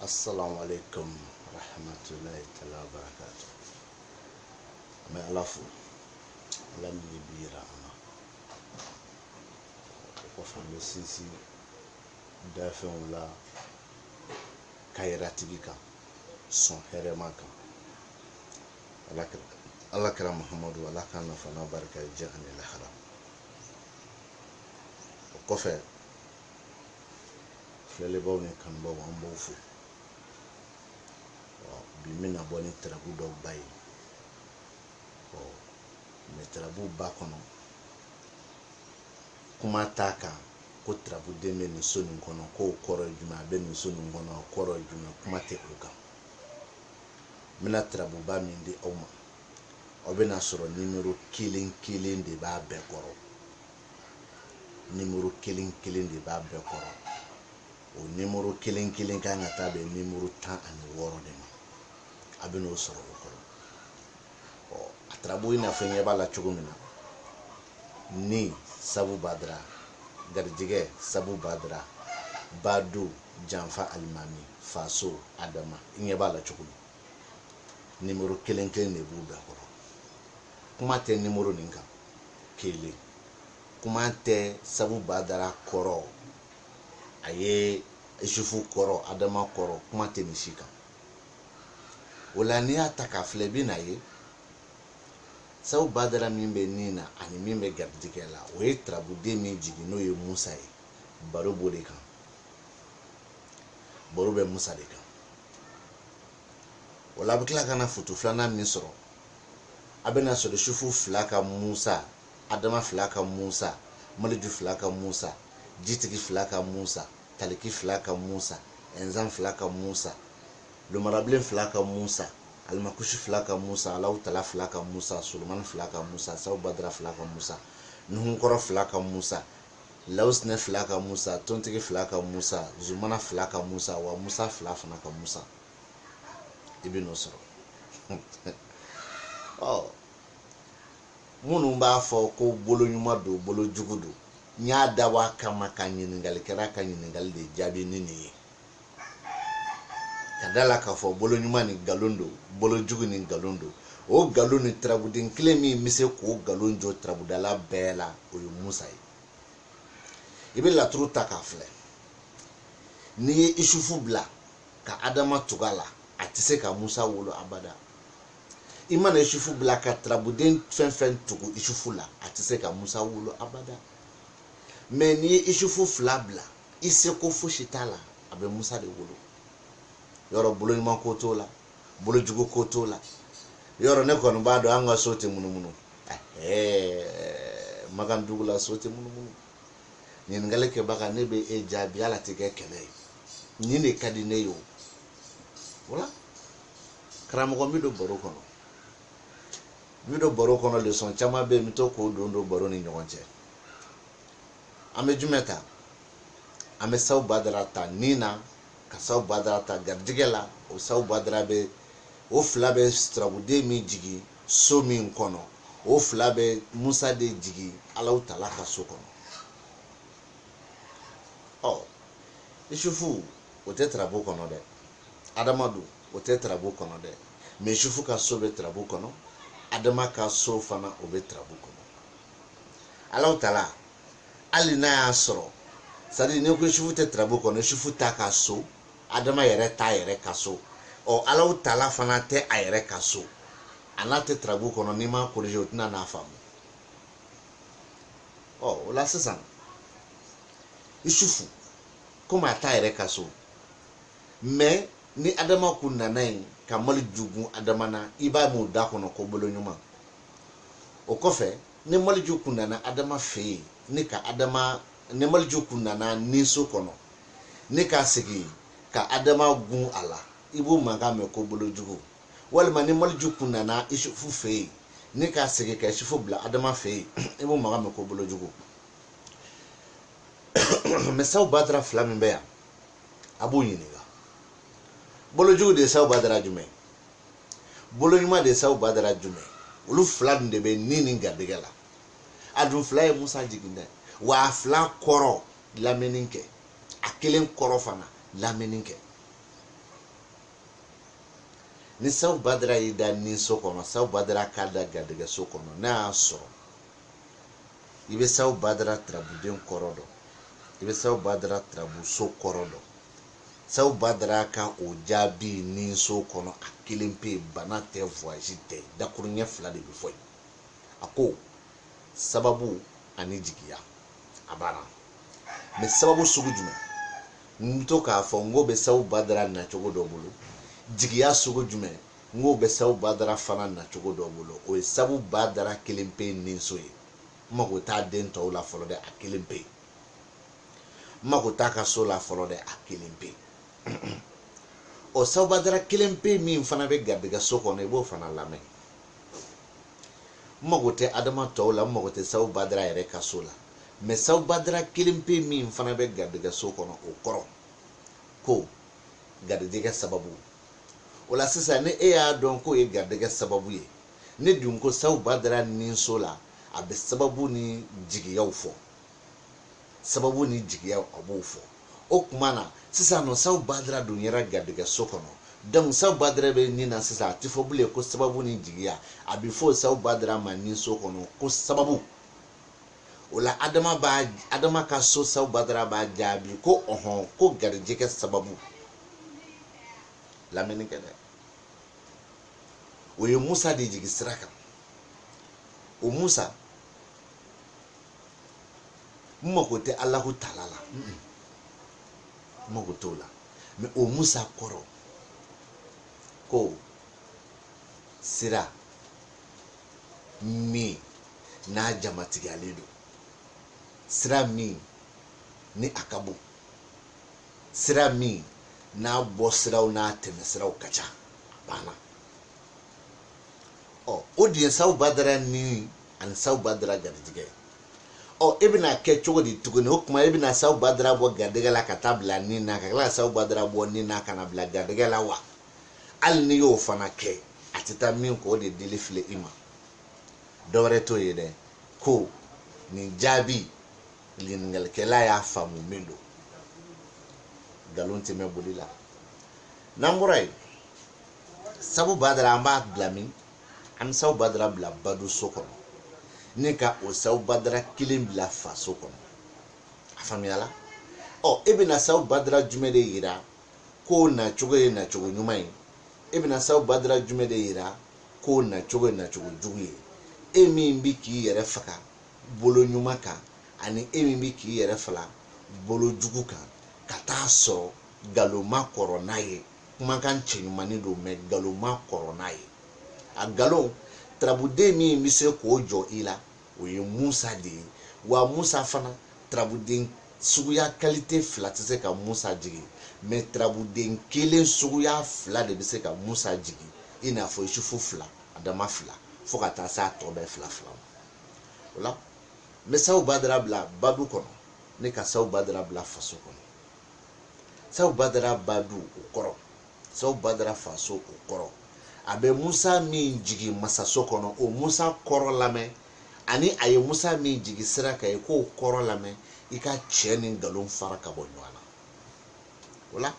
Assalamu alaikum rahmatulahi tala barakatu. An bɛ Ala fo Ala min ye bi yira an na. O kɔfɛ an bɛ sinsin dafɛnw la kayiratigi kan sɔn hɛrɛma kan. Ala kira Muhamadu Ala k'an nafa n'a barika ye diɲɛ ani lahara. O kɔfɛ filɛlibaaw ni kanubaaw an b'aw fo bi n bɛna bɔ ni tarabu dɔw ba ye mɛ tarabuba kɔnɔ kuma t'a kan ko tarabuden bɛ nin so nin kɔnɔ k'o kɔrɔ ye jumɛn a bɛ nin so nin kɔnɔ o kɔrɔ ye jumɛn kuma tɛ o kan n bɛna tarabuba min di aw ma aw bɛna sɔrɔ nimero kelen kelen de b'a bɛɛ kɔrɔ nimoro kelen kelen de b'a bɛɛ kɔrɔ o nimoro kelen kelen kan ka taa bɛn nimoro tan ani wɔɔrɔ de ma a bɛn'o sɔrɔ o kɔrɔ ɔ a tarabu i n'a fɔ i ɲɛ b'a la cogo min na ni sabu badara garijɛgɛ sabu badara badu janfa alimami faso adama i ɲɛ b'a la cogo min nimoro kelen kelen de b'u bɛɛ kɔrɔ kuma tɛ nimoro nin kan kelen kuma tɛ sabu badara kɔrɔ a ye isufu kɔrɔ adama kɔrɔ kuma tɛ nin si kan o la n'i y'a ta k'a filɛ i bɛn'a ye sabu badara min bɛ ni na ani min bɛ garijɛgɛ la o ye tarabuden min jigin n'o ye musa ye baro b'o de kan baro bɛ musa de kan o la a bɛ tila ka na futu filanan min sɔrɔ a bɛna sɔrɔ isufu fila ka musa adama fila ka musa maliju fila ka musa jitigi fila ka musa taliki fila ka musa ɛnzan fila ka musa lomarabilen fila ka musa alimakusi fila ka musa alaw tala fila ka musa solomani fila ka musa saw badara fila ka musa nuhunkɔrɔ fila ka musa lawusinɛ fila ka musa tontigi fila ka musa zumana fila ka musa wa musa fila fana ka musa i bɛn'o sɔrɔ ɔ minnu b'a fɔ ko bolo ɲuman don bolo jugu don n y'a dabɔ a kama ka ɲininkalikɛla ka ɲininkali de jaabi ni nin ye ka da la k'a fɔ bolo ɲuman nin nkalon don bolo jugu nin nkalon don o nkalon nin tarabuden kelen min bɛ se k'o nkalon jɔ tarabudala bɛɛ la o ye musa ye i bɛ laturu ta k'a filɛ n'i ye isufu bila ka adama tugu a la a tɛ se ka musa wolo abada i mana isufu bila ka tarabuden fɛn fɛn tugu isufu la a tɛ se ka musa wolo abada mɛ n'i ye isufu fila bila i seko fosi t'a la a bɛ musa de wolo yɔrɔ bolo ɲuman ko t'o la bolo jugu ko t'o la yɔrɔ ne kɔni b'a dɔn an ka so tɛ munumunu makan dugu la so tɛ munumunu ɲininkali kɛbaga ne bɛ e jaabi ala tɛ kɛ kɛlɛ ye nin de ka di ne ye o wala karamɔgɔ n bɛ don baro kɔnɔ n bɛ don baro kɔnɔ lesɔn caman bɛ yen n bɛ to k'o don don baro ni ɲɔgɔn cɛ an bɛ jumɛn ta an bɛ saw badara ta ni na ka saw badara ta garijɛgɛ la o saw badara bɛ o fila bɛ tarabuden min jigin so min kɔnɔ o fila bɛ musa de jigin alaw tala ka so kɔnɔ ɔ isufu o tɛ tarabu kɔnɔ dɛ adama dun o tɛ tarabu kɔnɔ dɛ mɛ isufu ka so bɛ tarabu kɔnɔ adama ka so fana o bɛ tarabu kɔnɔ alaw tala hali n'a y'a sɔrɔ sadi ni ko isufu tɛ tarabu kɔnɔ isufu t'a ka so adama yɛrɛ t'a yɛrɛ ka so ɔ alaw tala fana tɛ a yɛrɛ ka so a n'a tɛ tarabu kɔnɔ n'i m'a korije o tɛna n'a faamu ɔ o la sisan isufu komi a t'a yɛrɛ ka so mɛ ni adama kun nana yen ka maliju gun adama na i b'a mɛn u da kɔnɔ ko bolo ɲuman o kɔfɛ ni maliju kun nana adama fɛ yen n'i ka adama ni maliju kun nana ninso kɔnɔ n'i ka segin ka adama gun a la i b'o mankan mɛn ko bolo jugu walima ni maliju kun nana isufu fɛ yen n'i ka segin ka isufu bila adama fɛ yen i b'o mankan mɛn ko bolojugu mɛ saw badara fila min bɛ yan a b'u ɲininka bolojugu de ye saw badara jumɛn boloɲuman de ye saw badara jumɛn olu fila dun de bɛ ni ni garijɛgɛ la a dun fila ye musa jigin dɛ wa a fila kɔrɔ lamini kɛ a kelen kɔrɔ fana lamini kɛ ni sabu badara y'i da ni so kɔnɔ sabu badara k'a da garijɛgɛ so kɔnɔ n'a y'a sɔrɔ i bɛ sabu badara turabuden kɔrɔ dɔn i bɛ sabu badara turabuso kɔrɔ dɔn sabu badara ka o jaabi ni so kɔnɔ a kelen pe bana tɛ vuwazi tɛ dakuruɲɛ fila de bɛ fɔ yen a ko sababu ani jigiya a banna mɛ sababu sugu jumɛn n to k'a fɔ n k'o bɛ sabu badara nacogo dɔ bolo jigiya sugu jumɛn n k'o bɛ sabu badara fana nacogo dɔ bolo o ye sabu badara kelen pe ninso ye n mago t'a den tɔw la fɔlɔ dɛ a kelen pe n mago t'a ka so la fɔlɔ dɛ a kelen pe o sabu badara kelen pe min fana bɛ garijɛgɛ so kɔnɔ i b'o fana lamɛn n mago tɛ adama tɔw la n mago tɛ sabu badara yɛrɛ ka so la mɛ sabu badara kelen pe min fana bɛ garijɛgɛ so kɔnɔ o kɔrɔ ko garijɛgɛ sababu o la sisan ni e y'a dɔn k'o ye garijɛgɛ sababu ye ne dun ko sabu badara ni so la a bɛ sababu ni jigiyaw fɔ sababu ni jigiya a b'o fɔ o tuma na sisan n'o sabu badara dun yera garijɛgɛ so kɔnɔ donc sabu badara bɛ nin na sisan a tɛ fɔ bilen ko sababu ni jigiya a bɛ fɔ sabu badara ma nin so kɔnɔ ko sababu o la adama ka so sabu badara b'a jaabi ko ɔhɔn ko garijɛgɛ sababu lamɛnni kɛ dɛ o ye musa de jigi sira kan o musa n mago tɛ alahu taala la n mago t'o la mɛ o musa kɔrɔ ko sira min n'a jamatigiyalen don sira min ni a ka bon sira min n'a bɔ siraw n'a tɛmɛ siraw ka ca a banna ɔ o de ye sabu badara ni ani sabu badara garijɛgɛ ye ɔ e bɛna kɛ cogo di tuguni o tuma e bɛna sabu badara bɔ garijɛgɛ la ka taa bila ni na ka tila ka sabu badara bɔ ni na ka na bila garijɛgɛ la wa hali n'i y'o fana kɛ a tɛ taa min kɔ o de dili filɛ i ma dɔwɛrɛ t'o ye dɛ ko nin jaabi ɲininkalikɛla y'a faamu min don nkalon tɛ mɛn boli la n'an bɔra yen sabu badara an b'a bila min an bɛ sabu badara bila badenso kɔnɔ ni ka o sabu badara kelen bila faso kɔnɔ a faamuyala ɔ e bɛna sabu badara jumɛn de yira k'o nacogo ye nacogo ɲuman ye e bɛna sabu badara jumɛn de yira k'o nacogo ye nacogo jugu ye e min bɛ k'i yɛrɛ faga bolo ɲuman kan ani e min bɛ k'i yɛrɛ faga bolo jugu kan ka t'a sɔrɔ nkalon ma kɔrɔ n'a ye kumakan cɛɲumanni don mɛ nkalon ma kɔrɔ n'a ye a nkalon turabuden min bɛ se k'o jɔ i la o ye musa de ye wa musa fana turabuden suguya kalite fila tɛ se ka musa jigin mɛ turabuden kelen suguya fila de bɛ se ka musa jigin i n'a fɔ isufu fila adama fila fo ka taa se a tɔ bɛɛ fila fila ma o la n bɛ sabu badara bila badu kɔnɔ ne ka sabu badara bila faso kɔnɔ sabu badara badu o kɔrɔ sabu badara faso o kɔrɔ a bɛ musa min jigin masaso kɔnɔ o musa kɔrɔ lamɛn ani a ye musa min jigin sira kan i k'o kɔrɔ lamɛn i ka cɛn ni nkalon fara ka bɔ ɲɔgɔn na o la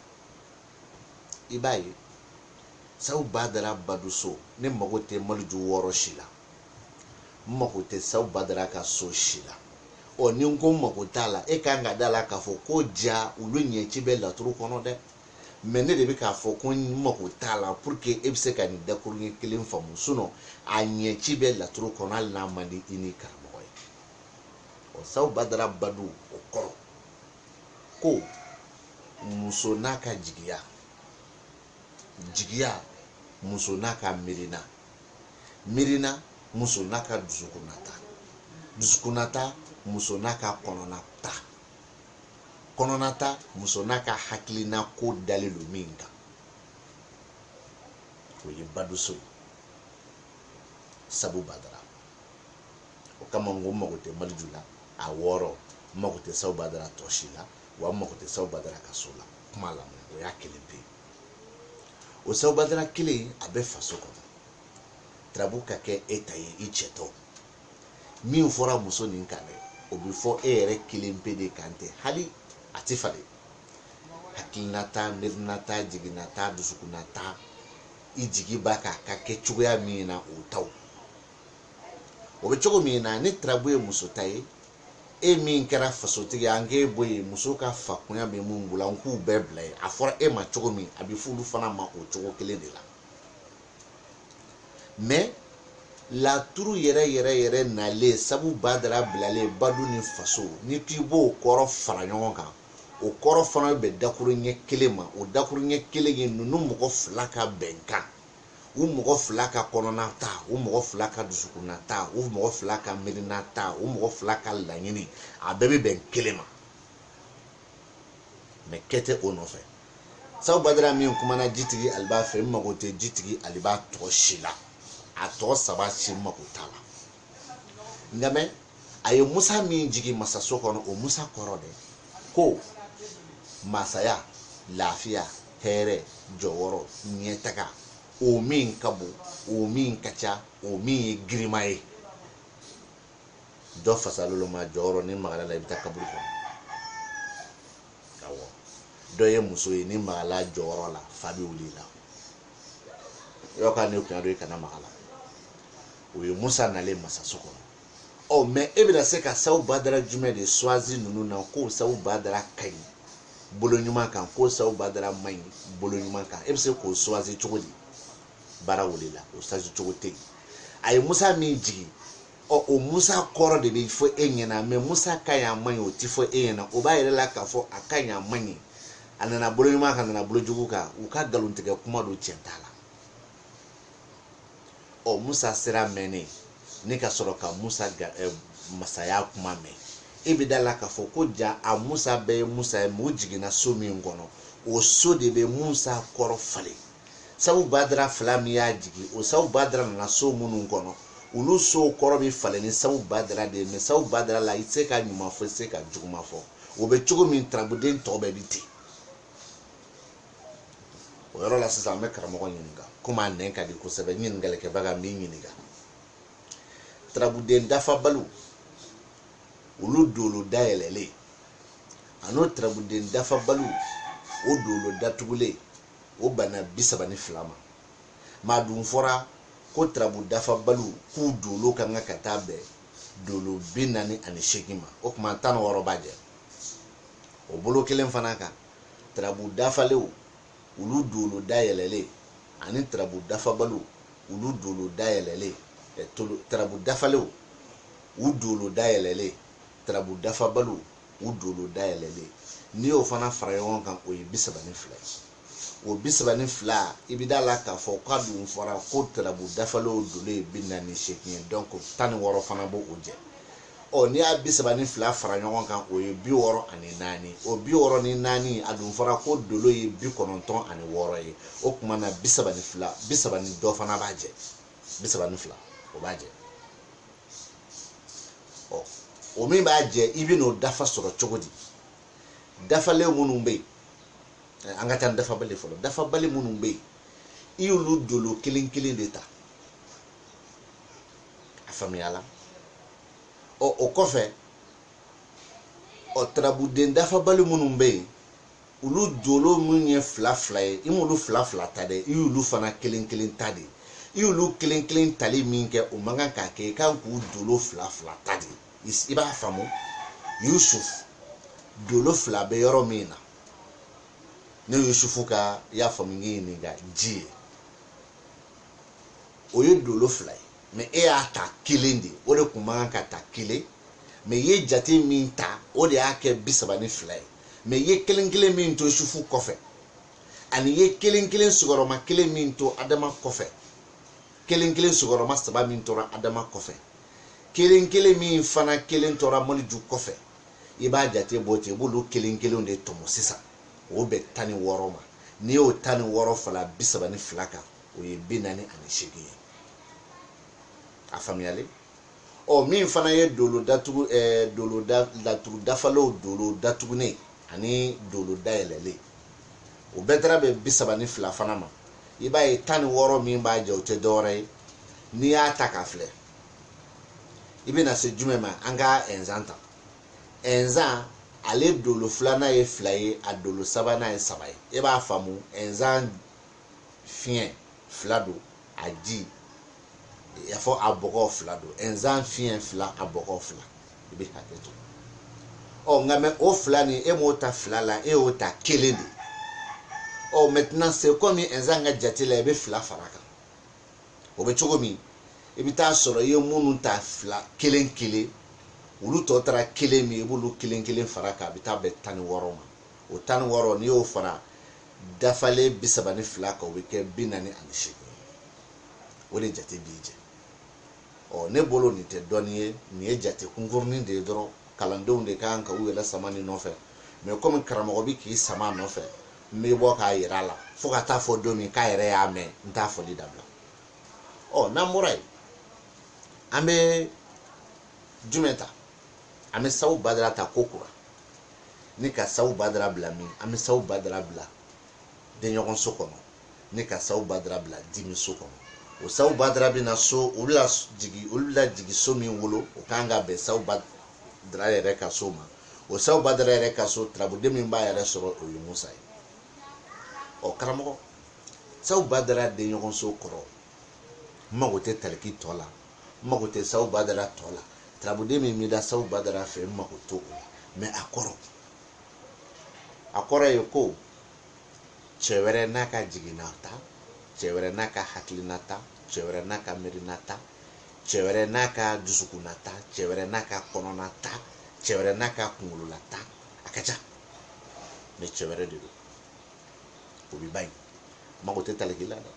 i b'a ye sabu badara baduso ne mago tɛ maliju wɔɔrɔ si la n mago tɛ sabu badara ka so si la ɔ ni n ko n mago t'a la e kan ka da la k'a fɔ ko ja olu ɲɛci bɛ laturu kɔnɔ dɛ mɛ ne de bɛ k'a fɔ ko n mago t'a la pour que e bɛ se ka nin dakuruɲɛ kelen faamu sinɔn a ɲɛci bɛ laturu kɔnɔ hali n'a man di i ni karamɔgɔ ye ɔ sabu badara badu o kɔrɔ ko muso n'a ka jigiya jigiya muso n'a ka miirina miirina muso n'a ka dusukunnata dusukunnata muso n'a ka kɔnɔnata kɔnɔnata muso n'a ka hakilina ko dalen don min kan o ye baduso ye sabu badara o kama n ko n mago tɛ maliju la a wɔɔrɔ n mago tɛ sabu badara tɔ si la wa n mago tɛ sabu badara ka so la kuma lamɛn o y'a kelen pe o sabu badara kelen a bɛ faso kɔnɔ turabu ka kɛ e ta ye i cɛtɔ min fɔra muso nin kan dɛ o bɛ fɔ e yɛrɛ kelen pe de kan tɛ hali a tɛ falen hakilinata miirinata jiginata dusukunnata i jigi b'a kan a ka kɛ cogoya min na o taw o bɛ cogo min na ni turabu ye muso ta ye e min kɛra fasotigi an k'e bɔ yen muso ka fakunya bɛ mun bolo an k'u bɛɛ bila yen a fɔra e ma cogo min a bɛ f'olu fana ma o cogo kelen de la mais laturu yɛrɛ yɛrɛ yɛrɛ nalen sabu badara bilalen badu ni faso n'i k'i b'o kɔrɔ fara ɲɔgɔn kan o kɔrɔ fana bɛ bɛn dakuruɲɛ kelen ma o dakuruɲɛ kelen ye ninnu mɔgɔ fila ka bɛnkan u mɔgɔ fila ka kɔnɔnata u mɔgɔ fila ka dusukunnata u mɔgɔ fila ka miirinata u mɔgɔ fila ka laɲini a bɛɛ bɛ bɛn kelen ma mɛ kɛ tɛ o nɔfɛ sabu badara min kumana jitigi aliba fɛ n mago tɛ jitigi aliba tɔgɔ si la a tɔgɔ saba si n mago t'a la nka mɛ a ye musa min jigin masaso kɔnɔ o musa kɔrɔ dɛ ko masaya lafiya hɛrɛ jɔyɔrɔ ɲɛtaga o min ka bon o min ka ca o min ye girima ye dɔ fasalolo ma jɔyɔrɔ n'i magala a la i bɛ taa kaburu kɔnɔ awɔ dɔ ye muso ye n'i magala jɔyɔrɔ la fa bɛ wuli i la yɔrɔ ka ne kun y'a dɔn i kana maga a la o ye musa nalen masaso kɔnɔ ɔ mɛ e bɛna se ka sawu badara jumɛn de swazi ninnu na k'o sawu badara ka ɲi bolo ɲuman kan k'o sawu badara man ɲi bolo ɲuman kan e bɛ se k'o swazi cogo di baara wulila o swazi cogo tɛ yen a ye musa min jigin ɔ o musa kɔrɔ de bɛ fɔ e ɲɛna mɛ musa ka ɲi a man ɲi o tɛ fɔ e ɲɛna o b'a yɛrɛ la k'a fɔ a ka ɲi a man ɲi a nana bolo ɲuman kan a nana bolo jugu kan u ka nkalontigɛ kuma don tiɲɛ t'a la ɔ musa sera mɛnnen e ka sɔrɔ ka musa ga ɛ masaya kuma mɛn e bɛ da a la k'a fɔ ko jaa musa bɛɛ ye musa ye mɛ o jiginna so min kɔnɔ o so de bɛ musa kɔrɔ falen sabu badara fila min y'a jigin o sabu badara nana so minnu kɔnɔ olu sow kɔrɔ bɛ falen ni sabu badara de ye mɛ sabu badara la i tɛ se ka ɲuman fɔ i tɛ se ka juguman fɔ o bɛ cogo min tarabuden tɔw bɛɛ bɛ ten o yɔrɔ la sisan an bɛ karamɔgɔ ɲininka komi a nɛn ka di kosɛbɛ ɲininkalikɛbaga n b'i ɲininka tarabuden dafabaliw olu dolo dayɛlɛlen an'o tarabuden dafabaliw o dolo datugulen o bɛnna bi saba ni fila ma mɛ a dun fɔra ko tarabu dafabaliw k'u dolo ka kan ka taa bɛn dolo bi naani ani seegin ma o tuma tan ni wɔɔrɔ b'a jɛ o bolo kelen fana kan tarabu dafalenw olu dolo dayɛlɛlen ani tarabu dafabaliw olu dolo dayɛlɛlen tarabu dafalenw u dolo dayɛlɛlen tarabu dafabaliw u dolo dayɛlɛlen n'i y'o fana fara ɲɔgɔn kan o ye bi saba ni fila ye o bi saba ni fila i bɛ da a la k'a fɔ k'a dun fɔra ko tarabu dafalenw dolo ye bi naani ni seegin ye dɔnko tan ni wɔɔrɔ fana b'o jɛ ɔ n'i y'a bi saba ni fila fara ɲɔgɔn kan o ye bi wɔɔrɔ ani naani o bi wɔɔrɔ ni naani a dun fɔra ko dolo ye bi kɔnɔntɔn ani wɔɔrɔ ye o tuma na bi saba ni fila bi saba ni dɔ fana b'a jɛ bi saba ni fila o b'a jɛ ɔ o min b'a jɛ i bɛn'o dafa sɔrɔ cogo di dafalen minnu bɛ yen eh, an ka taa ni dafabali fɔlɔ dafabali minnu bɛ yen i y'olu dolo kelen kelen de ta a faamuyala ɔ o kɔfɛ ɔ tarabuden dafabali minnu bɛ yen olu dolo minnu ye fila fila ye i m'olu fila fila ta dɛ i y'olu fana kelen kelen ta de i y'olu kelen kelen tali min kɛ o man kan k'a kɛ i kan k'u dolo fila fila ta de i b'a faamu yusuf dolo fila bɛ yɔrɔ min na ne yusufu ka y'a faamu n y'i ɲininka ji ye o ye dolo fila ye mɛ e y'a ta kelen de o de kun man kan ka ta kelen mɛ i ye jate min ta o de y'a kɛ bi saba ni fila ye mɛ i ye kelen kelen min to yusufu kɔfɛ ani i ye kelen kelen sigiyɔrɔma kelen min to adama kɔfɛ kelen kelen sigiyɔrɔma saba min tora adama kɔfɛ kelen kelen min fana kelen tora maliju kɔfɛ i b'a jate bɔ ten i b'olu kelen kelenw de tɔmɔ sisan o bɛ tan ni wɔɔrɔ ma n'i y'o tan ni wɔɔrɔ fara bi saba ni fila kan o ye bi naani ani seegin ye a faamuyalen ɔ min fana ye dolo datugu ɛɛ eh, dolo da laturu dafalenw dolo datugunen ani dolo dayɛlɛlen o bɛɛ taara bɛn bi saba ni fila fana ma i b'a ye tan ni wɔɔrɔ min b'a jɛ o tɛ dɔwɛrɛ ye n'i y'a ta k'a filɛ i bɛna se jumɛn ma an ka ɛnzan ta ɛnzan ale dolo filanan ye fila ye a dolo sabanan ye saba ye e b'a faamu ɛnzan fiɲɛ fila don a ji a fɔ a bɔgɔ fila don ɛnzan fiɲɛ fila a bɔgɔ fila i bɛ hakɛ to ɔ nka mɛ o fila nin e m'o ta fila la e y'o ta kelen de ɔ mɛtinan se kɔmi ɛnzan ka jate la i bɛ fila fara kan o bɛ cogo min i bɛ taa sɔrɔ i ye minnu ta fila kelen kelen olu tɔ taara kelen min i b'olu kelen kelen fara kan a bɛ taa bɛn tan ni wɔɔrɔ ma o tan ni wɔɔrɔ n'i y'o fara dafalen bi saba ni fila kan o bɛ kɛ bi naani ani seegin o de jate b'i jɛ ɔ ne bolo nin tɛ dɔnni ye nin ye jate kunkurunin de ye dɔrɔn kalandenw de ka kan ka u yɛrɛ sama nin nɔfɛ mɛ kɔmi karamɔgɔ bɛ k'i sama nɔfɛ n bɛ bɔ k'a yira a la fo ka taa fɔ don min k'a yɛrɛ y'a mɛn n t'a fɔli dabila ɔ n'an bɔra yen an bɛ jumɛn ta an bɛ sabu badara ta kokura ni ka sabu badara bila min an bɛ sabu badara bila denɲɔgɔnso kɔnɔ ni ka sabu badara bila dimiso kɔnɔ o sabu badara bɛ na so olu la jigi so min wolo o kan ka bɛn sabu badara yɛrɛ ka so ma o sabu badara yɛrɛ ka so tarabuden min b'a yɛrɛ sɔrɔ o ye musa ye ɔ karamɔgɔ sabu badara denɲɔgɔnso kɔrɔ n mago tɛ taliki tɔ la n mago tɛ sawu badara tɔ la tarabuden min bɛ da sawu badara fɛ n mago t'o la mais a kɔrɔ a kɔrɔ ye ko cɛ wɛrɛ n'a ka jigina ta cɛ wɛrɛ n'a ka hakilina ta cɛ wɛrɛ n'a ka miirina ta cɛ wɛrɛ n'a ka dusukunna ta cɛ wɛrɛ n'a ka kɔnɔna ta cɛ wɛrɛ n'a ka kunkolola ta a ka ca mais cɛ wɛrɛ de don o bɛ ban yen n mago tɛ taliki la dɛ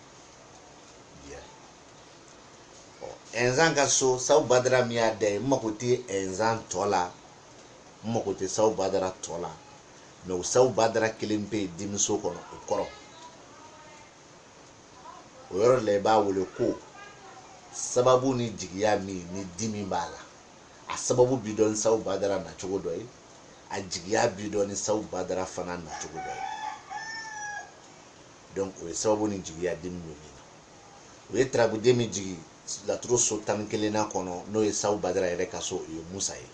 ɛnzan ka so sabu badara min y'a da ye n mago tɛ ɛnzan tɔ la n mago tɛ sabu badara tɔ la mais o sabu badara kelen bɛ yen dimiso kɔnɔ o kɔrɔ o yɔrɔ de la i b'a wele ko sababu ni jigiya min ni dimi b'a la a sababu bi dɔn ni sabu badara nacogo dɔ ye a jigiya bi dɔn ni sabu badara fana nacogo dɔ ye donc o ye sababu ni jigiya dimi bɛ min na o ye tarabuden min jigin laturu so tan ni kelennan kɔnɔ n'o ye sawu badara yɛrɛ ka so o ye musa ye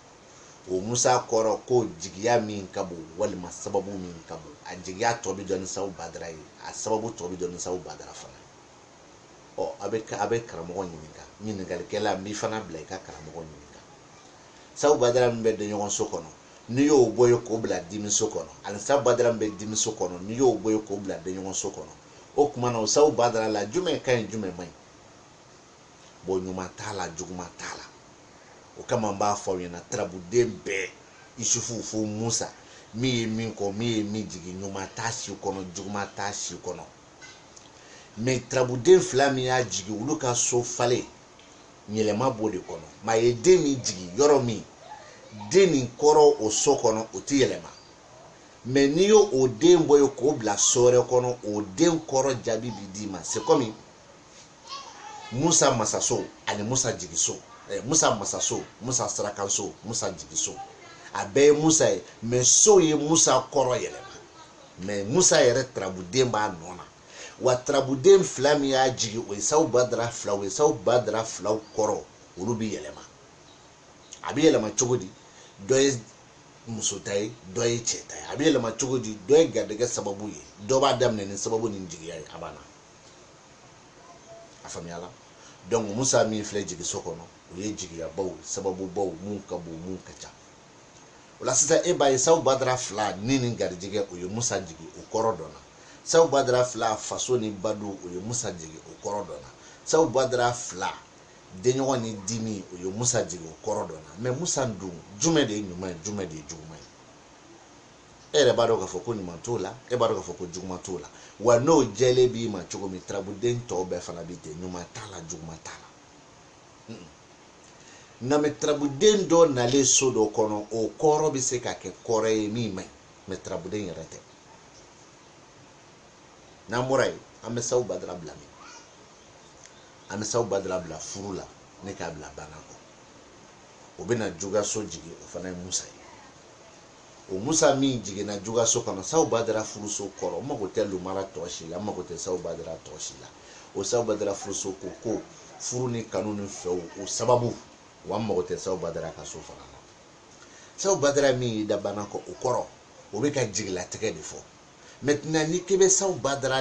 o musa kɔrɔ ko jigiya min ka bon walima sababu min ka bon a jigiya tɔ bɛ dɔn ni sawu badara ye a sababu tɔ bɛ dɔn ni sawu badara fana ye ɔ a bɛ a bɛ karamɔgɔ ɲininka ɲininkalikɛla n b'i fana bila i ka karamɔgɔ ɲininka sawu badara min bɛ denɲɔgɔnso kɔnɔ n'i y'o bɔ yen k'o bila dimiso kɔnɔ ani sabu badara min bɛ dimiso kɔnɔ n'i y'o bɔ yen k'o bila denɲɔgɔnso kɔnɔ o tuma na o sabu badara la jumɛn ka ɲi jumɛn man ɲi bon ɲuman t'a la juguman t'a la o kama n b'a fɔ aw ɲɛna tarabuden bɛɛ isufu fo musa min ye min kɔ min ye min jigin ɲuman t'a si kɔnɔ juguman t'a si kɔnɔ mais tarabuden fila min y'a jigin olu ka so falen yɛlɛma b'o de kɔnɔ maa ye den min jigin yɔrɔ min den nin kɔrɔ o so kɔnɔ o tɛ yɛlɛma mais n'i y'o o den bɔ yen k'o bila so wɛrɛ kɔnɔ o den kɔrɔ jaabi bi d'i ma c'est comme musa masaso ani musa jigiso eh, musa masaso musa sarakaso musa jigiso a bɛɛ ye musa ye mais sow ye musa kɔrɔ yɛlɛma mais musa yɛrɛ tarabuden b'a nɔ na wa tarabuden fila min y'a jigin o ye sawu badara fila ye sawu badara filaw kɔrɔ olu bi yɛlɛma a bɛ yɛlɛma cogo di dɔ ye muso ta ye dɔ ye cɛ ta ye a bɛ yɛlɛma cogo di dɔ ye garijɛgɛ sababu ye dɔ b'a daminɛ ni sababu ni jigiya ye a banna a faamuyala donc musa min filɛ jigiso kɔnɔ o ye jigiyabaw sababubaw mun ka bon mun ka ca o la sisan e b'a ye sabu badara fila ni ni garijɛgɛ o ye musa jigin o kɔrɔ dɔnna sabu badara fila faso ni badu o ye musa jigin o kɔrɔ dɔnna sabu badara fila Denɲɔgɔn ni dimi o ye Musa jigin o kɔrɔ dɔnna mais Musa dun jumɛn de ye ɲuman ye jumɛn de ye juguman ye e yɛrɛ b'a dɔn k'a fɔ ko ɲuman t'o la e b'a dɔn k'a fɔ ko juguman t'o la wa n'o jɛlen b'i ma cogo min tarabuden tɔw bɛɛ fana bɛ ten ɲuman t'a la juguman t'a la nka mɛ tarabuden dɔ nalen so dɔ kɔnɔ o kɔrɔ bɛ se ka kɛ kɔrɔ ye min man ɲi mɛ tarabuden yɛrɛ tɛ n'an bɔra yen an bɛ sawu badara bila min an bɛ saw badara bila furu la ni k'a bila bana kɔ o bɛna jugaso jigin o fana ye musa ye o musa min jiginna jugaso kɔnɔ saw badara furuso kɔrɔ n mago tɛ lumara tɔ si la n mago tɛ saw badara tɔ si la o saw badara furuso ko ko furu ni kanu ni fɛw o sababu wa n mago tɛ saw badara ka so fana na saw badara min y'i da bana kɔ o kɔrɔ o bɛ ka jigilatigɛ de fɔ maintenant ni k'i bɛ saw badara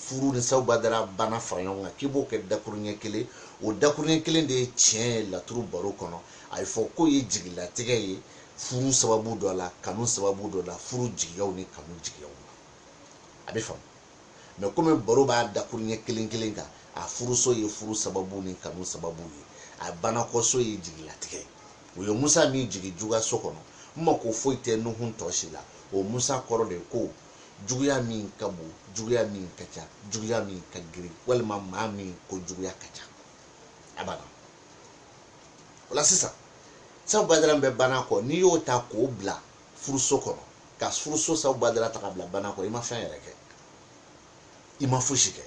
furu ni saw badara bana fara ɲɔgɔn kan k'i b'o kɛ dakuruɲɛ kelen o dakuruɲɛ kelen de ye tiɲɛ ye laturu baro kɔnɔ a ye fɔ k'o ye jigilatigɛ ye furu sababu dɔ la kanu sababu dɔ la furu jigiyaw ni kanu jigiyaw la a bɛ faamu mɛ komi baro b'a dakuruɲɛ kelen kelen kan a furuso ye furu sababu ni kanu sababu ye a banakɔso ye jigilatigɛ ye o ye musa min jigin juguyaso kɔnɔ n mako foyi tɛ nuhun tɔ si la o musa kɔrɔ de ko juguya min ka bon juguya min ka ca juguya min ka girin walima maa min ko juguya ka ca a banna o la sisan saw badara bɛ bana kɔ n'i y'o ta k'o bila furuso kɔnɔ ka furuso saw badara ta ka bila bana kɔ i ma fɛn yɛrɛ kɛ i ma fosi kɛ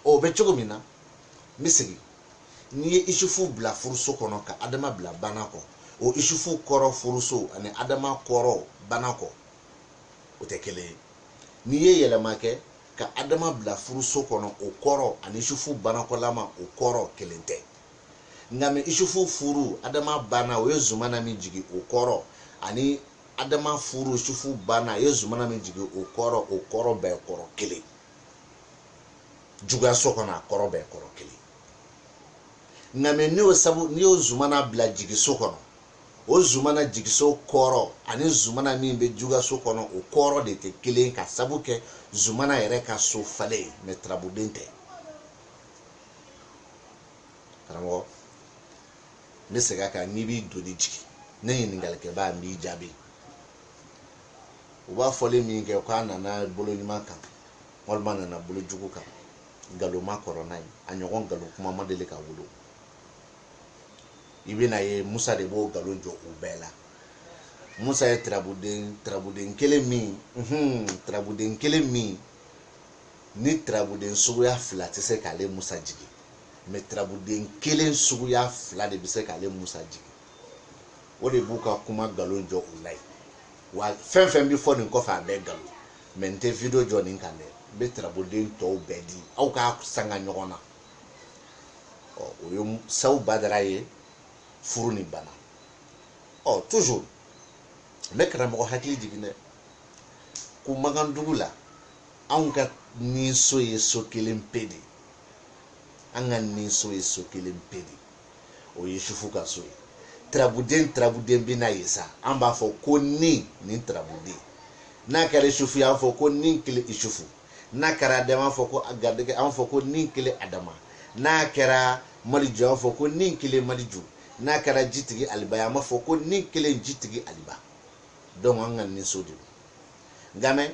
o bɛ cogo min na n bɛ segin n'i ye isufu bila furuso kɔnɔ ka adama bila bana kɔ o isufu kɔrɔ furuso ani adama kɔrɔ bana kɔ o tɛ kelen ye n'i ye yɛlɛma kɛ ka adama bila furuso kɔnɔ o kɔrɔ ani isufu banakɔlama o kɔrɔ kelen tɛ nka mɛ isufu furu adama bana o ye zumana min jigin o kɔrɔ ani adama furu isufu bana o ye zumana min jigin o kɔrɔ o kɔrɔ bɛɛ kɔrɔ kelen juguyaso kɔnɔ a kɔrɔ bɛɛ kɔrɔ kelen nka mɛ n'i y'o sabu n'i y'o zumana bila jigiso kɔnɔ o zumana jigiso kɔrɔ ani zumana min bɛ jugaso kɔnɔ o kɔrɔ de tɛ kelen ka sabu kɛ zumana yɛrɛ ka so falen mɛ tarabuden tɛ karamɔgɔ n bɛ segin a kan n'i b'i doni jigin ne ɲininkalikɛbaa n b'i jaabi u b'a fɔli min kɛ k'a nana bolo ɲuman kan walima nana bolo jugu kan nkalon ma kɔrɔ n'a ye a ɲɔgɔn nkalon kuma ma deli ka wolo i bɛna ye musa de b'o nkalon jɔ u bɛɛ la musa ye tarabuden tarabuden kelen min hun tarabuden kelen min ni tarabuden suguya fila tɛ se k'ale musa jigin mɛ tarabuden kelen suguya fila de bɛ se k'ale musa jigin o de b'u ka kuma nkalon jɔ u la ye wa fɛn fɛn bɛ fɔ nin kɔfɛ a bɛɛ nkalon mɛ n tɛ video jɔ nin kan dɛ n bɛ tarabuden tɔw bɛɛ di aw k'a sanga ɲɔgɔn na ɔ o ye sabu badara ye furu ni bana ɔ toujours n bɛ karamɔgɔ hakili jigin dɛ ko makan dugu la anw ka ni so ye so kelen pe de an ka ni so ye so kelen pe de o ye yusufu ka so ye tarabuden tarabuden bɛ na yen sa an b'a fɔ ko ni nin tarabuden n'a kɛra yusufu y'an fɔ ko ni kelen yusufu n'a kɛra adama an fɔ ko garijɛgɛ an fɔ ko ni kelen adama n'a kɛra maliju an fɔ ko ni kelen maliju n'a kɛra jitigi aliba an b'a fɔ ko ni kelen jitigi aliba donc an ka ni so de don nka mɛ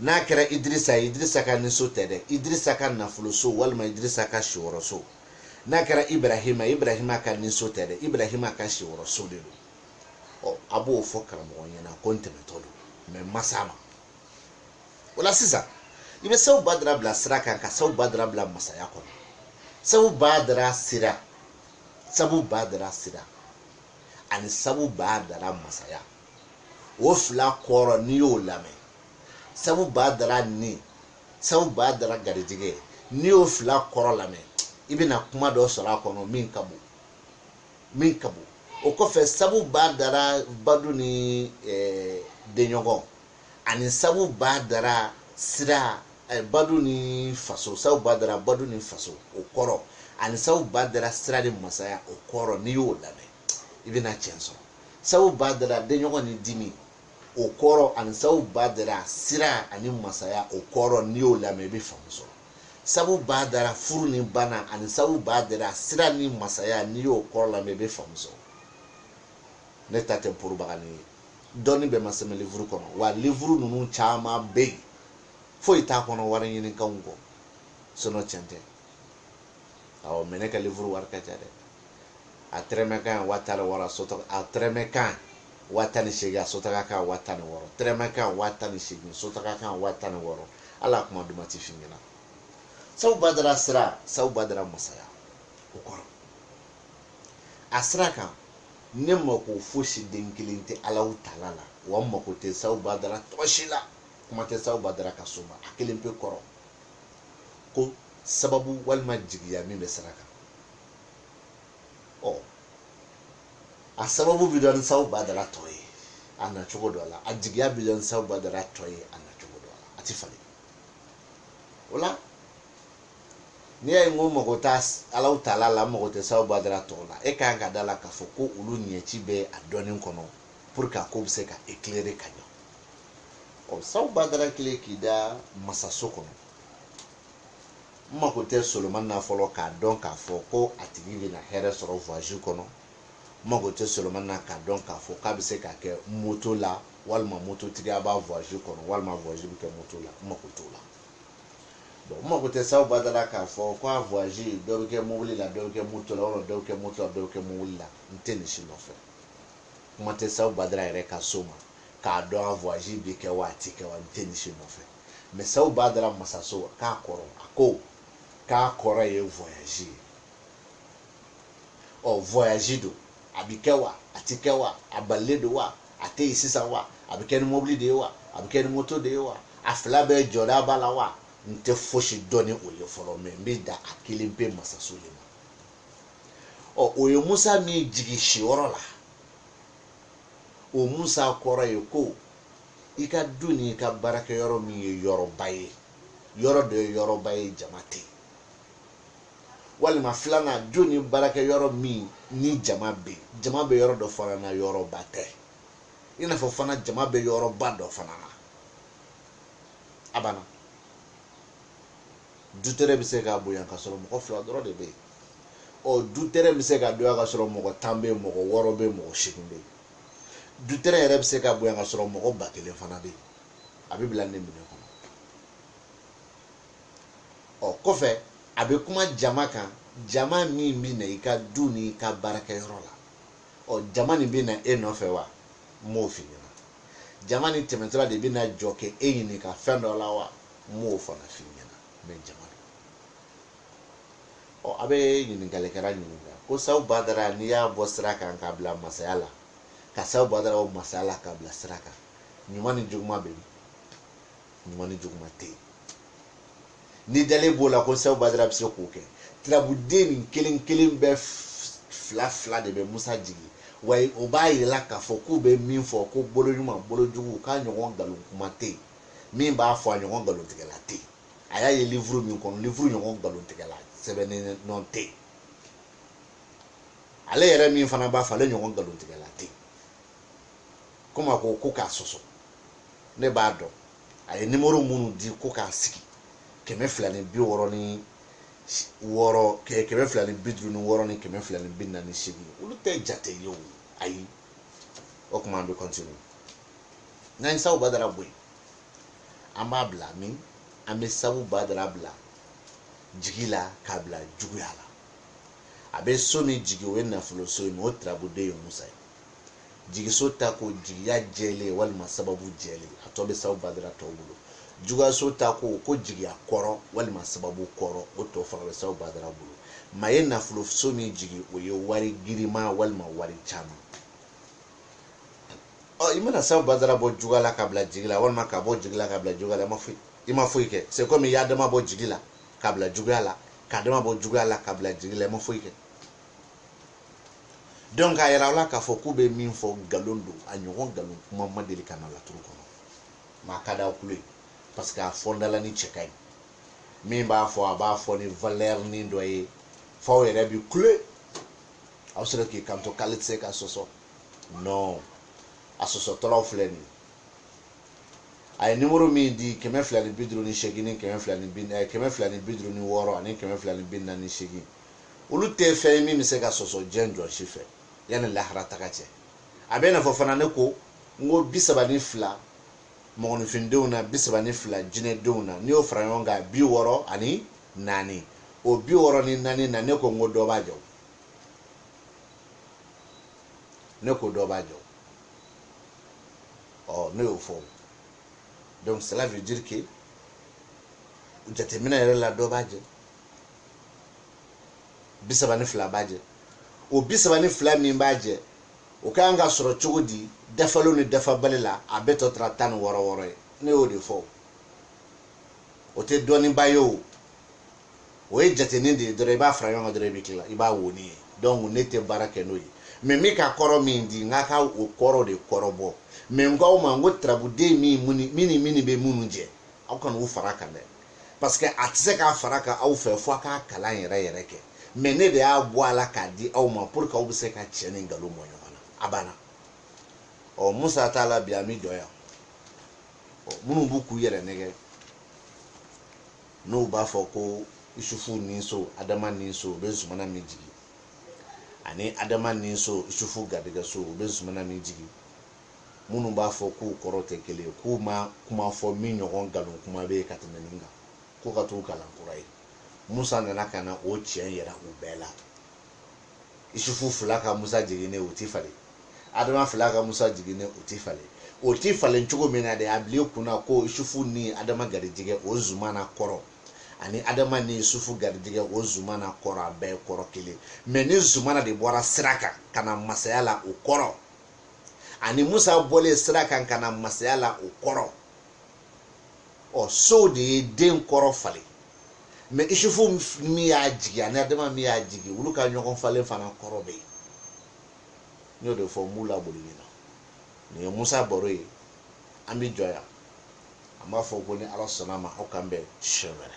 n'a kɛra idirisa ye idirisa ka niso tɛ dɛ idirisa ka nafoloso walima idirisa ka siyɔrɔso n'a kɛra ibrahima ibrahima ka niso tɛ dɛ ibrahima ka siyɔrɔso de don ɔ a b'o fɔ karamɔgɔ ɲɛna ko n tɛmɛtɔ don mɛ masa ma o la sisan i bɛ sabu badara bila sira kan ka sabu badara bila masaya kɔnɔ sabu badara sira sabu badara sira ani sabu badara masaya o fila kɔrɔ n'i y'o lamɛn sabu badara ni sabu badara garijɛgɛ n'i y'o fila kɔrɔ lamɛn i bɛna kuma dɔ sɔrɔ a kɔnɔ min ka bon min ka bon o kɔfɛ sabu badara badu ni eh, denɲɔgɔn ani sabu badara sira eh, badu ni faso sabu badara badu ni faso o kɔrɔ ani sabu badara sira ni masaya o kɔrɔ n'i y'o lamɛn i bɛna tiɲɛ sɔrɔ sabu badara denɲɔgɔn ni dimi o kɔrɔ ani sabu badara sira ani masaya o kɔrɔ n'i y'o lamɛn i bɛ faamu sɔrɔ sabu badara furu ni bana ani sabu badara sira ni masaya n'i y'o kɔrɔ lamɛn i bɛ faamu sɔrɔ ne ta tɛ propagande ye dɔnni bɛɛ ma sɛbɛn livuru kɔnɔ wa livuru ninnu caman bɛ yen foyi t'a kɔnɔ wari ɲinikanw kɔ sinon tiɲɛ tɛ awɔ mais ne ka livuru wari ka ca dɛ a tɛrɛmɛ kan wa tan ni wɔɔrɔ sotɔ a tɛrɛmɛ kan wa tan ni seegin a sotaga kan wa tan ni wɔɔrɔ tɛrɛmɛ kan wa tan ni seegin sotaga kan wa tan ni wɔɔrɔ ala kuma duman ti f'i ɲɛna sabu badara sira sabu badara masaya o kɔrɔ a sira kan ne mako fosi den kelen tɛ alahu taala la wa n mako tɛ sabu badara tɔ si la kuma tɛ sabu badara ka so ma a kelen pe kɔrɔ ko sababu walima jigiya min bɛ sira kan ɔ a sababu bɛ dɔn ni sabu badara tɔ ye a na cogo dɔ la a jigiya bɛ dɔn ni sabu badara tɔ ye a na cogo dɔ la a tɛ falen o la n'i y'a ye n ko mago tɛ alahu taala la mago tɛ sabu badara tɔw la e ka kan ka da la k'a fɔ ko olu ɲɛci bɛ a dɔnni kɔnɔ pour que a ko bɛ se ka éclairer ka ɲɛ ɔ sabu badara kelen k'i da masaso kɔnɔ n mako tɛ solomani na fɔlɔ k'a dɔn k'a fɔ ko a tigi bɛna hɛrɛ sɔrɔ voyage kɔnɔ n mako tɛ solomani na k'a dɔn k'a fɔ k'a bɛ se ka kɛ moto la walima mototigiya b'a voyage kɔnɔ walima voyage bɛ kɛ moto la n mako t'o la bon n mako tɛ sabu badara k'a fɔ ko a voyage dɔ bɛ kɛ mobili la dɔ bɛ kɛ moto la walima dɔ bɛ kɛ moto la dɔ bɛ kɛ mobili la n tɛ nin si nɔfɛ kuma tɛ sabu badara yɛrɛ ka so ma k'a dɔn a voyage bɛ kɛ wa a tɛ kɛ wa n tɛ nin si nɔfɛ Mais sabu badara masaso k'a kɔrɔ a ko k'a kɔrɔ ye voyage ye ɔ voyage don a bi kɛ wa a ti kɛ wa a balilen don wa a tɛ yen sisan wa a bi kɛ ni mobili de ye wa a bi kɛ ni moto de ye wa a fila bɛɛ jɔda b'a la wa n tɛ fosi dɔn ni o ye fɔlɔ mais n bɛ da a kelen pe masaso de ma ɔ o ye musa min jigin siyɔrɔ la o musa kɔrɔ ye ko i ka du ni i ka baarakɛ yɔrɔ min ye yɔrɔba ye yɔrɔ dɔ ye yɔrɔba ye jama tɛ walima filanan du ni baarakɛ yɔrɔ min ni jama bɛ jama bɛ yɔrɔ dɔ fana na yɔrɔba tɛ i n'a fɔ fana jama bɛ yɔrɔba dɔ fana na a banna dutɛrɛn bɛ se ka bonya ka sɔrɔ mɔgɔ fila dɔrɔn de bɛ yen ɔ dutɛrɛn bɛ se ka dɔgɔya ka sɔrɔ mɔgɔ tan bɛ yen mɔgɔ wɔɔrɔ bɛ yen mɔgɔ seegin bɛ yen dutɛrɛn yɛrɛ bɛ se ka bonya ka sɔrɔ mɔgɔ ba kelen fana bɛ yen a bɛ bila ne minɛ kɔnɔ ɔ kɔfɛ a bɛ kuma jama kan jama min bɛ na i ka du ni i ka baarakɛyɔrɔ la ɔ jama nin bɛ na e nɔfɛ wa n m'o f'i ɲɛna jama nin tɛmɛtɔla de bɛ na jɔ k'e ɲininka fɛn dɔ la wa n m'o fana f'i ɲɛna mais jama ɔ a bɛ ɲininkalikɛla ɲininka ko sabu badara n'i y'a bɔ sira kan k'a bila masaya la ka sabu badara bɔ masaya la k'a bila sira kan ɲuman ni juguman bɛ min ɲuman ni juguman tɛ yen n'i dalen b'o la ko sabu badara bɛ se k'o kɛ tirabuden nin kelen kelen bɛɛ fila fila de bɛ musa jigin wa o b'a yira aw la k'a fɔ k'u bɛ min fɔ ko bolo ɲuman bolo jugu k'a ɲɔgɔn nkalon kuma tɛ yen min b'a fɔ a ɲɔgɔn nkalontigɛla tɛ yen a y'a ye livuru min kɔnɔ livuru ɲɔgɔn nkalontigɛla sɛbɛnnen nɔ tɛ yen ale yɛrɛ min fana b'a fɔ ale ɲɔgɔn nkalontigɛla tɛ yen komi a ko ko k'a sɔsɔ ne b'a dɔn a ye nimoro minnu di ko k'a sigi kɛmɛ fila ni bi wɔɔrɔ ni wɔɔrɔ kɛmɛ fila ni bi duuru ni wɔɔrɔ ni kɛmɛ fila ni bi naani ni seegin olu tɛ jate ye o ayi o tuma an bɛ kɔntini n'an ye sabu badara bɔ yen an b'a bila min an bɛ sabu badara bila jigi la k'a bila juguya la a bɛ so min jigi o ye nafolo so ye n'o tirabuden ye musa ye jigiso ta ko jigiya jɛlen walima sababu jɛlen a tɔ bɛ sabu badara tɔw bolo juguyaso ta ko ko jigiya kɔrɔ walima sababu kɔrɔ o tɔ fana bɛ sabu badara bolo mais a ye nafolo so min jigi o ye wari girinma walima wari caman i mana sabu badara bɔ juguya la k'a bila jigi la walima k'a bɔ jigi la k'a bila juguya la i ma foyi kɛ c'est comme i y'adama bɔ jigi la k'a bila juguya la k'adama bɔ juguya la k'a bila jigi la i ma foyi kɛ donc a yira aw la k'a fɔ k'u bɛ min fɔ nkalon don a ɲɔgɔn nkalon kuma ma deli ka na laturu kɔnɔ mais a ka d'aw tulo ye parce que a fɔndala ni cɛ ka ɲi min b'a fɔ a b'a fɔ ni valeur ni dɔ ye f'aw yɛrɛ bi kule aw sera k'i kanto k'ale tɛ se ka sɔsɔ non a sɔsɔtɔlaw filɛ nin a ye nimoro min di kɛmɛ fila ni bi duuru ni seegin ni kɛmɛ fila ni bi eh, kɛmɛ fila ni bi duuru ni wɔɔrɔ ani kɛmɛ fila ni bi naani ni seegin olu tɛ fɛn ye min bɛ se ka sɔsɔ diɲɛ jɔn si fɛ yanni lahara taga cɛ a bɛ n'a fɔ fana ne ko n ko bi saba ni fila mɔgɔninfindenw na bi saba ni fila jinɛdenw na n'i y'o fara ɲɔgɔn kan bi wɔɔrɔ ani naani o bi wɔɔrɔ ni naani na ne ko n ko dɔ b'a jɛ ne ko dɔ b'a jɛ ɔ ne y'o fɔ donc cela veut dire que jateminɛ yɛrɛ la dɔ b'a jɛ bi saba ni fila b'a jɛ o bi saba ni fila min b'a jɛ o ka kan ka sɔrɔ cogo di dafalen ni dafabali la a bɛɛ tɔ tora tan ni wɔɔrɔ wɔɔrɔ ye ne y'o de fɔ o tɛ dɔnniba ye o o ye jatenin de ye dɔrɔn i b'a fara ɲɔgɔn kan dɔrɔn i bɛ tila i b'a wo ni ye donc ne tɛ baara kɛ n'o ye mais min ka kɔrɔ min di n ka ka o kɔrɔ de kɔrɔbɔ mais n k'aw ma n ko turabuden min min ni min bɛ minnu jɛ aw kana u fara kan dɛ parce que a tɛ se k'a fara kan aw fɛ fo a k'a kalan yɛrɛ yɛrɛ kɛ mais ne de y'a bɔ a la k'a di aw ma pour que aw bɛ se ka tiɲɛ ni nkalon bɔ ɲɔgɔn na a banna ɔ musa t'a la bi an bɛ jɔ yan minnu b'u k'u yɛrɛ nɛgɛn n'u b'a fɔ ko isufu ninso adama ninso u bɛ zumana min jigin ani adama ninso isufu garijɛgɛso u bɛ zumana min jigin minnu b'a fɔ k'u kɔrɔ tɛ kelen ye k'u ma kuma fɔ min ɲɔgɔn nkalon kuma bɛ yen ka tɛmɛ nin kan k'u ka t'u kalan kura ye musa nana ka na o tiɲɛ yira u bɛɛ la isufu fila ka musa jiginnen o ti falen adama fila ka musa jiginnen o ti falen o ti falen cogo min na de a b'ile kun na ko isufu ni adama garijigɛ o zumana kɔrɔ ani adama ni isufu garijigɛ o zumana kɔrɔ a bɛɛ kɔrɔ kelen mais ni zumana de bɔra sira kan ka na masaya la o kɔrɔ ani musa bɔlen sira kan ka na masaya la o kɔrɔ ɔ sow de ye den kɔrɔ falen mais isufu min y'a jigin ani adama min y'a jigin olu ka ɲɔgɔn falen fana kɔrɔ bɛ yen n y'o de fɔ n b'u laboli ɲina nin ye musa baro ye an bɛ jɔ yan an b'a fɔ ko ni ala sɔnn'a ma aw k'an bɛn siɲɛ wɛrɛ